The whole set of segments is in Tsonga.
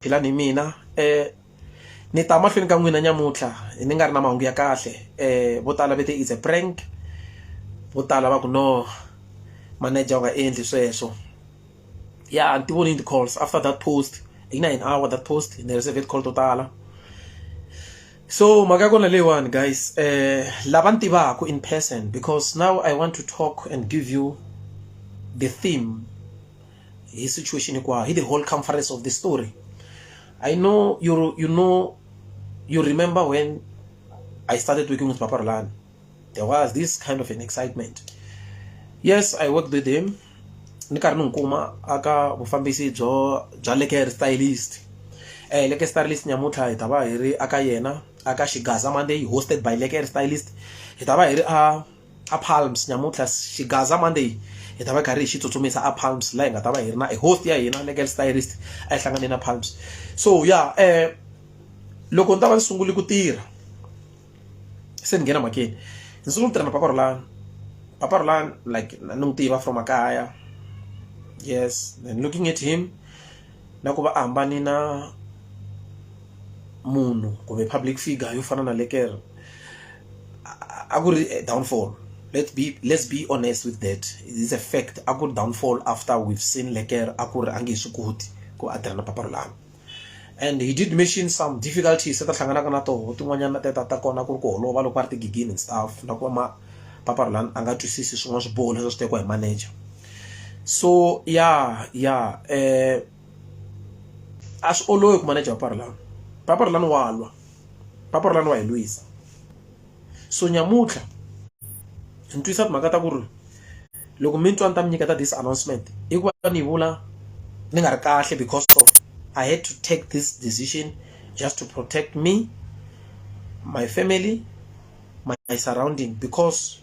philani hi mina um ni ta mahlweni ka n'wina nyamuntlha ni nga ri na mahungu ya kahle um vo tala va te is a prank vo tala va ku no manager u nga endli sweswo ya ni ti vonini ti-calls after that post yi na an hour that post ni receive call to tala so mhaka ya kona leyiwani guys um lava ni tivaka in person because now i want to talk and give you the theme hi situation hinkwayo hi the whole conference of the story i know you, you know you remember when i started working with papa rolani there was this kind of an excitement yes i worked with him ni karhi ni n'wi kuma aka vufambisi byo bya leker stylist eh leker stylist nyamutlha hi ta va hi ri aka yena aka xigaza monday hosted by leker stylist hi ta va hi ri a a palms nyamuntlha xigaza monday hi ta va karhi hi xi tsutsumisa a palms laha hi nga ta va hi ri na e host ya hina legal stylist a yi hlangane na palms so ya yeah, eh loko ni ta va ni sungule ku tirha se ni nghena makeni ni sungule ku tirha na papa rolani papa rolani like ni n'wi tiva from makaya yes and looking at him na ku va a hambane na munhu kumbe public figure yo fana na le kereke a ku ri downfall let's be let's be honest with that it's a fact a ku ri downfall after we've seen le kereke a ku ri a nge he swi koti ku a tirha na papa rolano and he did mention some difficulties a ta hlanganaka na toho tin'wanyana ta ta ta kona ku ri ku holova loko va ri tigigini and stuff na ku va ma papa rolano a nga twisisi swin'wana swiboho leswi a swi tekiwa hi manager so ya ya eh a swi olovi ku maneja papara lani papara lani wa lwa papara lani wa hi lwisa so nyamutlha ni twisa timhaka ta ku ri loko mi twa ni ta mi nyiketa this announcement i ku va ni vula ni nga ri kahle because of i had to take this decision just to protect me my family my surrounding because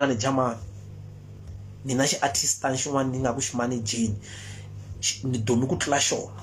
manager mani mina xi artist xin'wana ni nga ku xi manejeni ni dumi ku tlula xona.